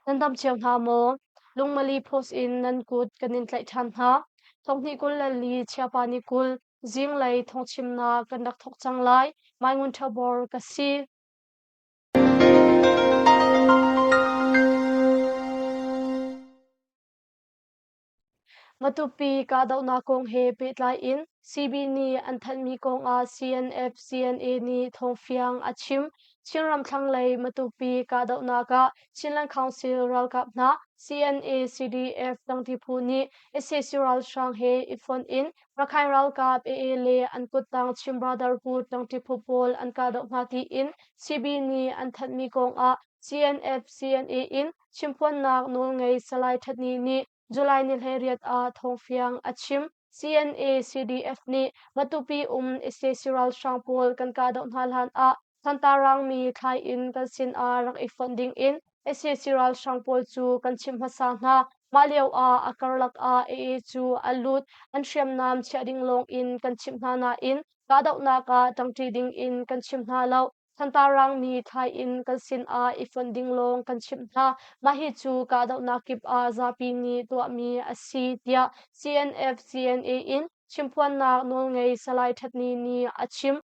Nan dam cio hna maw? Lungmali post in nan kut kan in tlaih ṭhan hna. Thonghni kul le li chiapa ni kul zinglei thongchimnak kan rak thok cang lai. Mai Ngun Ṭha Bor ka si. Matupi kahdohnak kong he pehtlai in CB nih an thanhmi kong ah CNF CNA nih thawngfiang a chim. Chinram thlanglei Matupi kahdohnak ah Chinland Council ralkap hna CNA CDF dangti phu nih sac ralhrang he i fonh in Rakhine ralkap AA le an kuttang Chin Brother phu tangti phu pawl an kahdoh hna tiin CB nih an thanhmi kong ah CNF CNA in Chimphuannak nawlngei Salai Ṭhat Ni nih July ni hleiriat ah thawngfiang a chim. CNA-CDF nih Matupi um sac ralhrang pawl kan kahdoh hna hlan ah Santarangmi thlai inn kan sin ah rak i fonh ding in sac ralhrang pawl cu kan chimh hmasa hna. Mah lio ah a karlak ah AA cu an lut an hriamnam chiah ding lawng in kan chimh hna nain kahdohnak ah ṭangṭi ding in kan chim hna lo. Santarangmi thlai in kan sinah i fonh ding lawng kan chimh hna. Mah hi cu kahdohnak kip ah zapi nih tuahmi a si tiah CNF CNA in chimphuannak nawlngei Salai Ṭhat Ni nih a chim.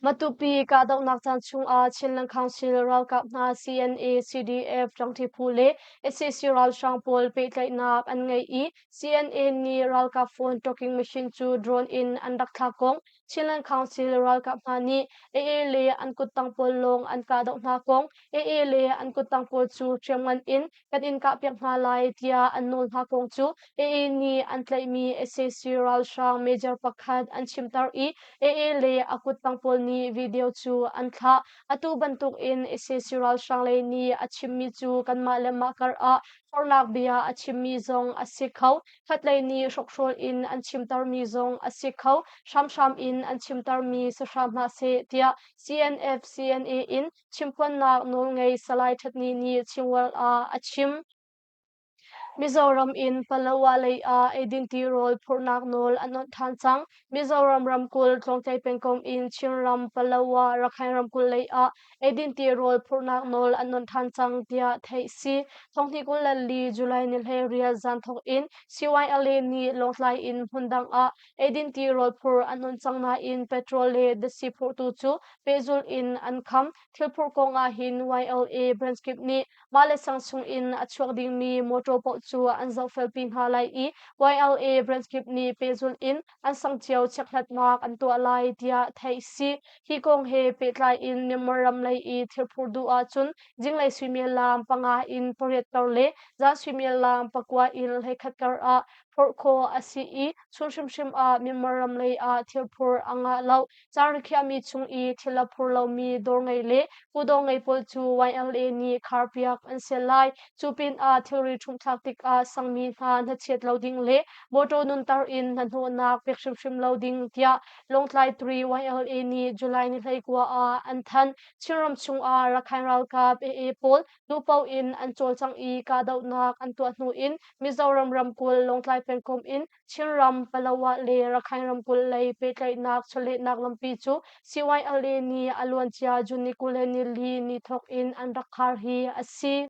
Matupi kahdohnak caan chungah Chin Langkhangsil ralkap hna CNA, CDF ṭangṭhi phu le sac ralhrang pawl pehtlaihnak an ngei i CNA nih ralkap phone talking machine cu drone in an rak thlak kong Chinland Council ralkap hna nih AA le an kuttang pawl lawng an kahdoh hna kong AA le an kuttang pawl cu hriamngan in kan in kahpiak hna lai tiah an nawl hna kong cu AA nih an tlaihmi sac ralhrang major pakhat an chimter i AA le a kuttang pawl nih video cu an thlah. Atu bantuk in sac ralhrang lei nih a chimmi cu kanmah le mah kar ah Forlak bia a chimmi zong a si kho. Khatlei nih hrokhrol in an chimtermi zong a si kho. Hramhram in an chimtermi si hram hna seh tiah CNF CNA in chimpuannak nawlngei Salai Ṭhatni nih Chingwell ah a chim. Mizoram in Palawa lei ah eidin tirawl phurhnak nawl an awnh ṭhan cang. Mizoram ramkulh Tlawngtlei pengkomh in Chinram Palawa Rakhine ramkulh lei ah eidin tirawl phurhnak nawl an on than cang tiah theih si. Thonghni kul le li July ni le rial zan thawk in CYLA nih Lawngtlai in hmundang ah eidin tirawl phur an on cang nain petrol le dasi phurtu cu pehzulh in an kham. Thil phur kong ah hin YLA branch kip nih Mahle Samsung in a chuak dingmi mawṭaw paoh cu an zohfelpi hna lai i YLA brand kip nih pehzulh in an sangcio chekhlatnak an tuah lai tiah theih a si. Hi kong he pehtlai in Myanmar ram lei i thirphur duh ahcun zinglei suimilam panga in pariatter le zan suimilam pakua in hleikhatter ah phorh khawh a si i chun hrimhrim ah Myanmar ram lei ah thirphur a ngah lo. Caar na khiahmi chung i thil a phur lomi dawr ngei le kudawr ngei pawl cu YLA nih kharpiak an sial lai. Cu pinah thilri ṭhumhthlak tikah sangmi hna hnachiat lo ding le mawṭaw nunter in hnahnawhnak pek hrimhrim lo ding tiah Lawngtlai 3 YLA nih July ni hleikua ah an thanh. Chinram chungah Rakhine ralkap AA pawl nu paoh in an cawlcang i kahdohnak an tuah hnu in Mizoram ramkulh Lawngtlai pengkomh in Chinram, Palawa le Rakhine ramkulh lei pehtlaihnak chawlehnak lampi cu CYLA nih a luancia June ni kul le nili ni thawk in an rak khar hi a si.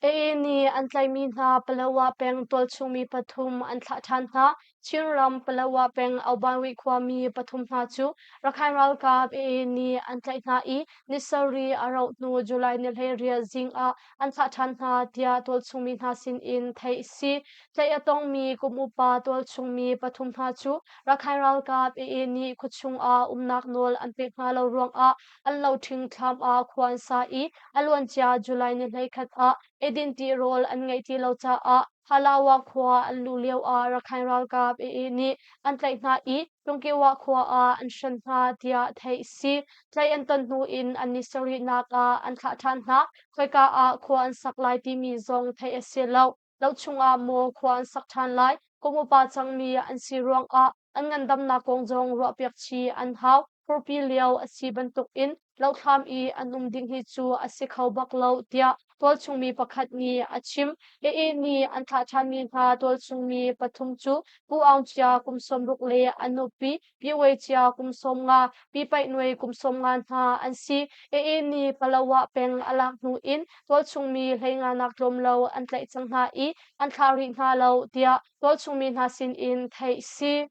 AA nih an tlaihmi hna Palawa peng tualchungmi pathum an thlah ṭhan hna. Chinram, Palawa peng Aubanri khuami pathum hna cu Rakhine ralkap AA nih an tlaih hna i ni sarih a rauh hnu July ni hleiriat zing ah an thah ṭhan hna tiah tualchungmi hna sinin theih a si. Tlaih a tongmi kum upa tualchungmi pathum hna cu Rakhine ralkap AA nih khuachung ah umnak nawl an pek hna lo ruangah an loṭhing thlam ah khua an sa i a luancia July ni hleikhat ah edin ṭihrawl an ngeih ti lo caah Palawa khua an luh lioah Rakhine ralkap AA nih an tlaih hna i Tungkehwah khua ah an hran hna tiah theih a si. Tlaih an ton hnu in an ni sarihnak ah an thlah ṭhan hna. Khoika ah khua an sak lai timi zong theih a si lo. Lo chungah maw khua an sak ṭhan lai, kum upa cangmi an si ruangah an ngandamnak kong zong ruahpiak chih an hau. Furpi lio a si bantukin Lohthlam i an um ding hi cu a si kho bak lo, tiah tualchungmi pakhat nih a chim. Hihi ni an thlah ṭhanmi hna tualchungmi pathum cu Pu Aung Cia kum sawmruk le a nupi Pi Wei Cia kum sawm nga, Pi Paih Nuai kum sawm nga hna an si. Hihi ni Palawa peng a lak hnu in tualchungmi hleinganak tlawm lo an tlaih cang hna i an thlah rih hna lo, tiah tualchungmi hna sin in theih si.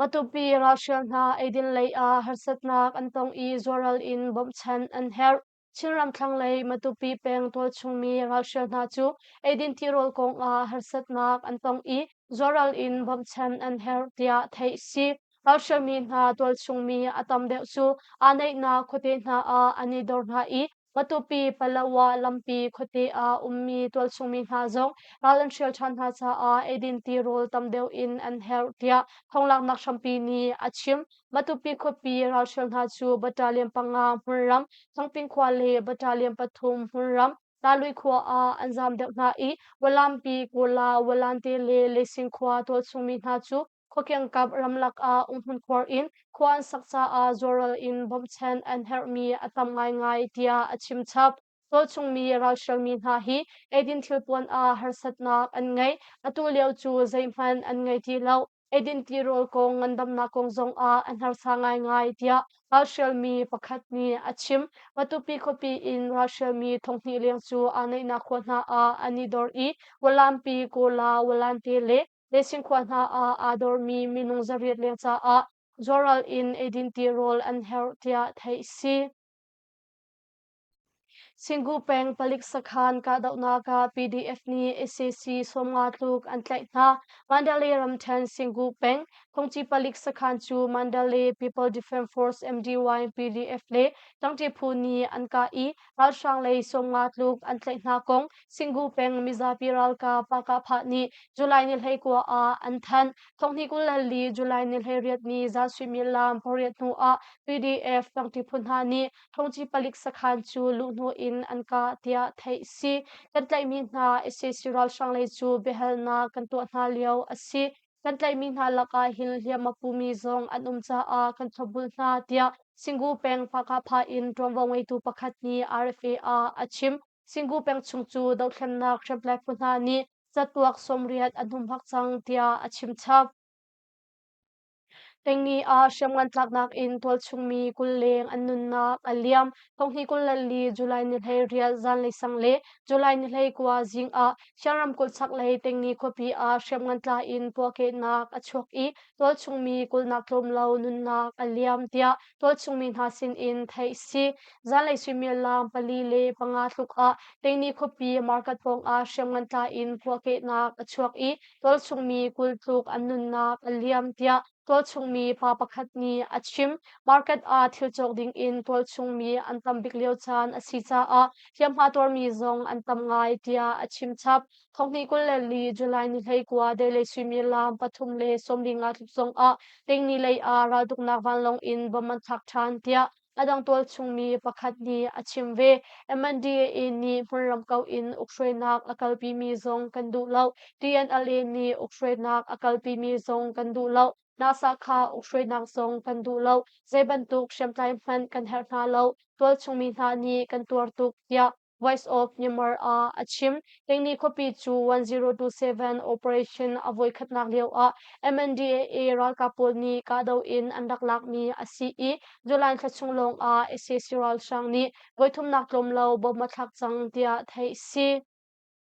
Matupi ralhrial hna eidin lei ah harsatnak an tong i zuaral in bawmhchanh an herh. Chinram thlanglei Matupi peng tualchungmi ralhrial hna cu eidin tirawl kong ah harsatnak an tong i zuaral in bawmhchanh an herh tiah theih a si. Ralhrialmi hna tualchungmi a tam deuh cu aa neihnak khuate hna ah an i dor hna i Matupi, Palawa lampi khuate ah ummi tualchungmi hna zong ral an hrial ṭhan hna caah eidin tirawl tam deuh in an herh tiah thawnglanghnak hrampi nih a chim. Matupi khuapi ralhrial hna cu battalion panga hmunram, Thangping khua le battalion pathum hmunram, Talui khua ah an zam deuh hna i Walampi, Kola, Walante le Lesing khua tualchungmi hna cu Khuakengkap ramlak ah umhmun khuar in khua an sak caah zawlral in bawmhchanh an herhmi a tam ngaingai tiah a chimchap. Tualchungmi ralhrialmi hna hi eidin thilpuan ah harsatnak an ngei. Atu lio cu zeihmanh an ngei ti lo. Eidin tirawl kong ngandamnak kong zongah an harsa ngaingai tiah ralhrialmi pakhat nih a chim. Matupi khuapi in ralhrialmi thonghnih leng cu aa neihnak khua hna ah an i dor i Walampi, Kola, Walante le Lesin khua hna ah aa dormi minung zariat lio caah zuaral in eidin ti rawl an herh tiah theih si. Singgu peng palik sakhan kahdohnak ah PDF nih SAC sawmnga tluk an tlaih hna. Mandalay ramthen Singgu peng Kongci palik sakhan cu Mandalay People Defense Force MDY PDF le Tangti phu nih an kah i Ralhrang lei Songwa tluk an tlaih hna kong Singhu peng mizapi ralkap Pakahpah nih July ni hleikua ah an thanh. Thonghni kul le li July ni hleiriatni za suimilam pariat hnu ah PDF tangti phu hna nih thongci palik sakhan cu luhhnawh in an kah tiah theih si. Kan tlaihmi hna SAC ralhrang lei cu biahalnak kan tuah hna lio a si. Kan tlaihmi hna lakah hil hliam a pumi zong an um caah kan thlawpbul hna tiah Singu peng Hakha in ṭuanvo ngeitu pakhat nih RFA ah a chim. Singu peng chung cu dohthlennak hriamtlai phu hna nih catuak sawmriat an humhak cang tiah a chim chap. Tengni ah hriamngan tlaknak in tualchungmi kul leng an nunnak a liam. Thonghi kul le li July ni hlei rial zanlei sang le July ni hlei kua zing ah Siangram kul chaklei Tengni khuapi ah hriamngan tla in puahkehnak a chuak i tualchungmi kulhnak tlawm lo nunnak a liam tiah tualchungmi hna sinin theih a si. Zanlei suimilam pali le panga tluk ah Tengni khuapi market pawngah hriamngan tla in puahkehnak a chuak i tualchungmi kul tluk an nunnak a liam tiah Tualchungmi pa pakhat nih a chim, market ah thil cawk dingin tualchungmi an tam bik lio caan a si caah hliamhma tuarmi zong an tam ngai tiah a chim chap. Thonghnih kul le li July ni hleikua delay suimilam pathum le sawmli nga tluk zongah lengni lei ah raltuknak vanlawng in bom an thlak ṭhan tiah A dang tualchungmi pakhat nih a chim ve. MNDA nih hmunram kauh in ukhruainak a kalpimi zong kan duh lo. DNLA nih ukhruainak a kalpimi zong kan duh lo. NASA kha ukhruainak zong kan duh lo. Zeibantuk hriamtlai hmanh kan herh hna lo. Tualchungmi hna nih kan tuar tuk tiah Voice of Myanmar ah a chim. Tingni khuapi cu 1027 operation a voikhatnak lio ah MNDAA ralkap pawl nih kahdoh in an rak lakmi a si i July thla chung lawng ah sac ralhrang nih voithumnak tlawm lo bomb a thlak cang tiah theih a si.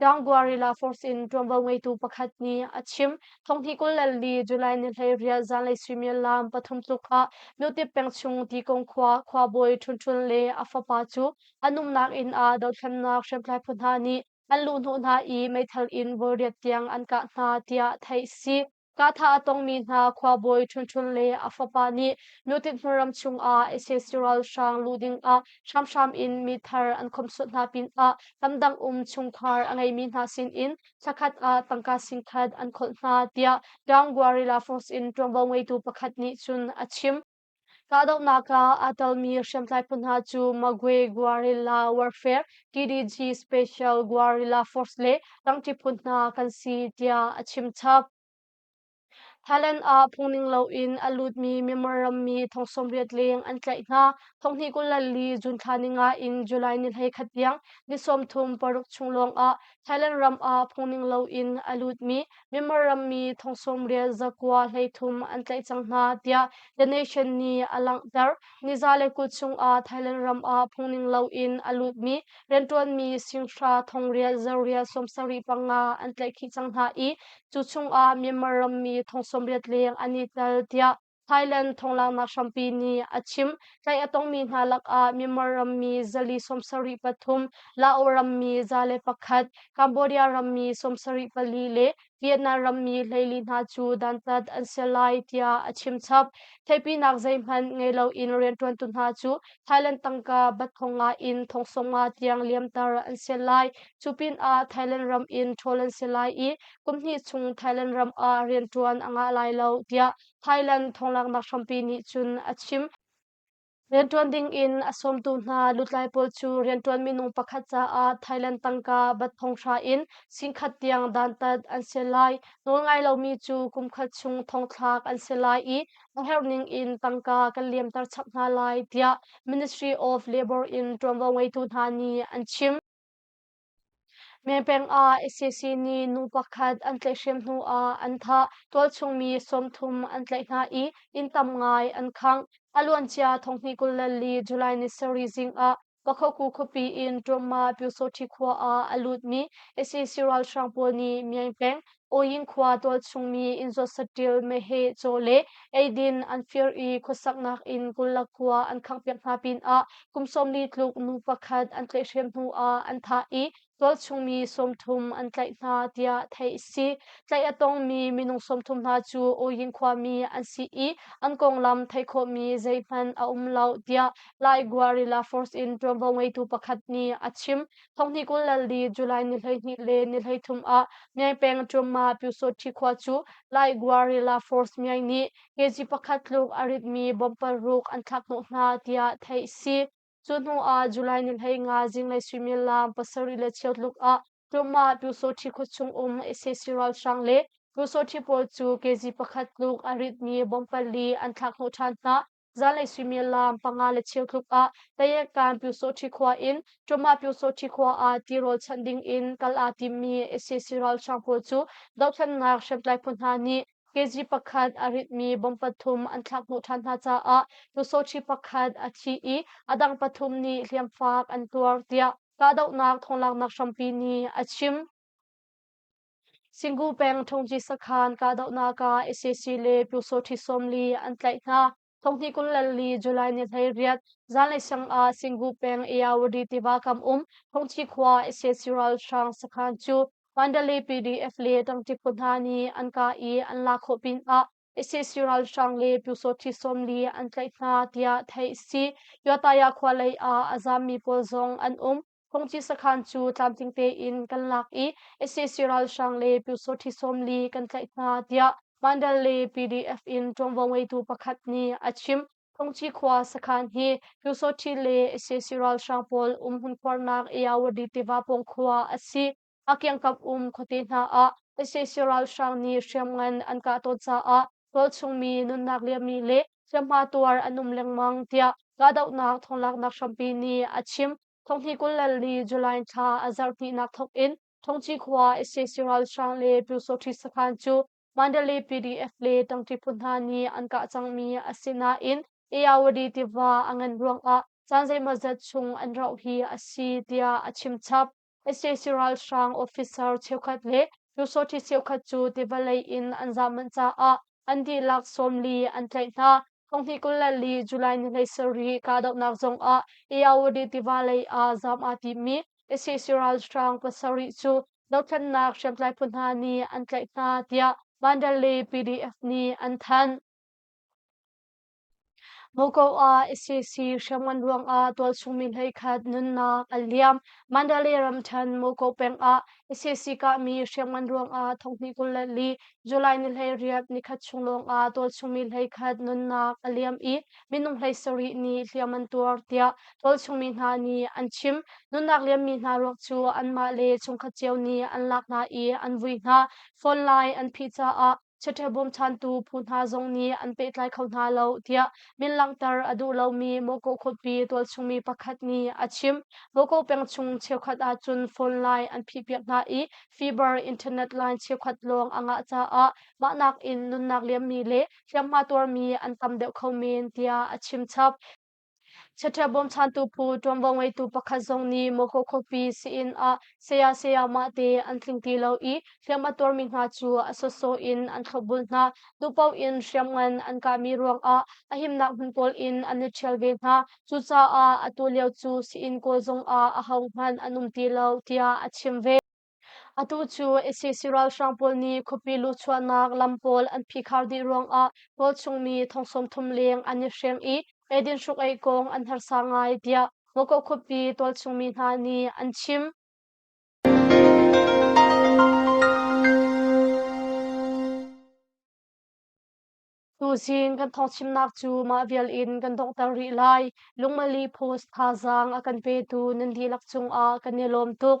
Dang Guerrilla Force in ṭuanvo ngeitu pakhat nih a chim. Thonghni kul le li July ni hleiriah zanlei suimilam pathum tluk ah Lutik peng chung Tikong khua khuabawi Ṭhunṭhun le a fapa cu an umnak inn ah dothlennak hriamtlai phu hna nih an luhhnawh hna i meithal in voiriat tiang an kah hna tiah theih a si. Katha a tongmi hna khuabawi ṭhunṭhun le a fapa nih Nutit hmaram chungah SS ralhrang luh dingah hramhram in mithar an khomsuat hna pinah lamdang um chungkhar a ngeimi hna sinin thlakhat ah tangka singkhat an kholh hna, tiah Young Guerrilla Force in ṭuanvo ngeitu pakhat nih cun a chim. Kahdohnak ah aa telmi hriamtlai phu hna cu Magwe Guerrilla Warfare (TDG Special Guerrilla Force) le Rangṭi phu hna kan si tiah a chim chap. Thailand ah phungning loin a lutmi Myanmar rammi thong sawmriat leng an tlaih hna. Thonghnih kul le li June thla ni nga in July ni hlei khat tiang ni sawmthum paruk chung lawngah Thailand ram ah phungning loin a lutmi Myanmar rammi thong sawmrial zakua hleithum an tlaih cang hna tiah The Nation nih a langhter. Niza le kut chungah Thailand ram ah phungning loin a lutmi rianṭuanmi singhra thongril zarrial sawmsarih panga an tlaih khih cang hna i cu chungah Myanmar rammi thong sawmriat leng an i tel tiah Thailand thonglaknak hrampi nih a chimh. Tlaih a tongmi hna lakah Myanmar rammi zali sawmsarih pathum, Lao rammi za le pakhat, Cambodia rammi sawmsarih pali le Vietnam rammi hleili hna cu dantat an si lai tiah a chimchap. Theihpinak zeihmanh ngei loin rianṭuantu hna cu Thailand tangka bathong nga in thongsawm nga tiang liamter an si lai. Cu pinah Thailand ram in ṭhawl an si lai i kumhnih chung Thailand ram ah rianṭuan a ngah lai lo tiah Thailand thawnglanghnak hrampi nih cun a chim. Rianṭuan ding in a sawmtu hna lutlai pawl cu rianṭuan minung pakhat caah Thailand tangka bat thonghra in singkhat tiang dantat an si lai. Nawlngai lomi cu kumkhat chung thongthlak an si lai i a herhning in tangka kan liamter chap hna lai tiah Ministry of Labour in ṭuanvo ngeitu hna nih an chim. Mepeng ah ICC nih nu pakhat an tlaihhrem hnuah an thah, tualchungmi sawmthum an tlaih hna i inn tam ngai an khangh. A luancia thonghni kul le li July ni sarih zing ah Pakhaku khuapi in Ṭuamma Pyosothi khua ah a lutmi ICC ralhrang pawl nih meng peng Oyin khua tualchungmi inn zawt saṭil meheh caw le eidin an fir i khuasaknak in Kulla khua an khanghpiak hna pinah kum sawmli tluk nu pakhat an tlaihhrem hnuah an thah i tualchungmi sawmthum an tlaih hna tiah theih a si. Tlaih a tongmi minung sawmthum hna cu Oyin khuami an si i an konglam theih khawhmi zeihmanh a um lo tiah Lai Guerrilla Force in ṭuanvo ngeitu pakhat nih a chim. Thonghni kul lal li July ni hleihnih le ni hleithum ah Myaing peng Ṭumma Pyusawṭhi khua cu Lai Gua Rila Force Myaing nih kg pakhat tluk a ritmi bomb paruk an thlakhnawh hna tiah theih a si. Cu hnu ah July ni hlei nga zinglei suimilam pasarih le chiotluk ah Ṭumma Pyusawṭhi khua chung um sac ralhrang le Pyusawṭhi pawl cu kg pakhat tluk a ritmi bomb pali an thlakhnawh ṭhan hna. Zanlei suimilam panga le cheu tluk ah Tayetkan Pyusawhṭi khua in Ṭawmah Pyusawhṭi khua ah ti rawlchanh ding in kal aa timmi sac ralhrang pawl cu dohthlennak hriamtlai phu hna nih kg pakhat a ritmi bom pathum an thlak hnawh ṭhan hna caah Pyusawhṭi pakhat a thi i a dang pathum nih hliamfak an tuar, tiah kahdohnak thawnglaaknak hrampi nih a chim. Singu peng Thongji sakhan kahdohnak ah ICC le Pyu Saw Hti Som li an tlaih hna. Thonghni kul lal li July ni hlei riat zanlei sang ah Singu peng Eyawadi tiva kam um Thongchi khua ICC ralhrang sakhan cu Mandali PDF le Tangti khua hna nih an kah i an lak khawh pin ah ICC ralhrang le pyusawh ṭhi sawm li an tlaih hna tiah theih a si. Yataya khua lei ah a zaammi pawl zong an um. Khongci sakhan cu tlamtling tein kan lak i ICC ralhrang le pyusawh ṭhi sawm li kan tlaih hna tiah Mandal le PDF in ṭuanvo ngeitu pakhat nih a chim. Khongci khua sakhan hi pyusawh ṭhi le ICC ralhrang pawl umhmun khuarnak Iyawadi tiva pawng khua a si. A kiangkap um khuate hna ah sac ralhrang nih hriamngan an kah tawn caah tualchungmi nunnak liammi le hliamhma tuar an um lengmang tiah kahdohnak thawnglaaknak hrampi nih a chim. Thonghni kul le li July thla a zarhhnihnak thawk in Thongci khua sac ralhrang le Pyosohri sakhan cu Mandalay PDF le tangṭi phu hna nih an kah cangmi a si nain Ayawady tiva a ngan ruangah caan zeimawzat chung an rauh hi a si tiah a chim chap. sac ralhrang officer cheukhat le pyusawhti cheukhat cu tivawlei in an zah manh caah an dihlak sawm li an tlaih hna. Thonghnih kul le li July ni hlei sarih kahdohnak zongah Eyawady tiva lei ah zaam aa timmi sac ralhrang pasarih cu dothlennak hriamtlai phu hna nih an tlaih hna tiah Mandalay PDF nih an thanh. Moscow ah ISIS hriamngan ruangah tualchungmi hleikhat nunnak a liam. Mandalay ramthen Moscow peng ah ISIS kahmi hriamngan ruangah thonghnih kul le li July ni hleiriat nikhat chung lawngah tualchungmi hleikhat nunnak a liam i minung hlei sarih nih hliam an tuar tiah tualchungmi hna nih an chim. Nunnak liammi hna ruak cu anmah le chungkhat cio nih an lak hna i an vui hna. Phone line an phih caah Chiṭha bawmchantu phu hna zong nih an pehtlai kho hna lo tiah min langhter a duh lomi Mawkaw khuapi tualchungmi pakhat nih a chim. Mawkaw peng chung cheukhat ahcun phone line an phihpiak hna i fiber internet line cheukhat lawng a ngah caah mah nakin nunnak liammi le hliamhma tuarmi an tam deuh kho men tiah a chim chap. Saṭhia bawmchantu phu ṭuanvo ngeitu pakhat zong nih Moko khuapi si-inn ah saya sayamah te an tling ti lo i hliam a tuarmi hna cu a sawsawh in an thlopbul hna, duhpaoh in hriamngan an kahmi ruangah a himnak hmun pawl in an i ṭhial ve hna. Cucaah atu lio cu si-inn kawl zongah ahohmanh an um ti lo tiah a chim ve. Atu cu ICC ralhrang pawl nih khuapi luhchuahnak lam pawl an phikhar dih ruangah tualchungmi thong sawmthum leng an i hrem i eidin hruk-eih kong an harsa ngai, tiah Mokok khuapi tualchungmi hna nih an chim. Tuzin kan thawngchimnak cu mah vial in kan donghter rih lai. Lungmali post thazaang a kan petu nan dihlak cungah kan i lawm tuk.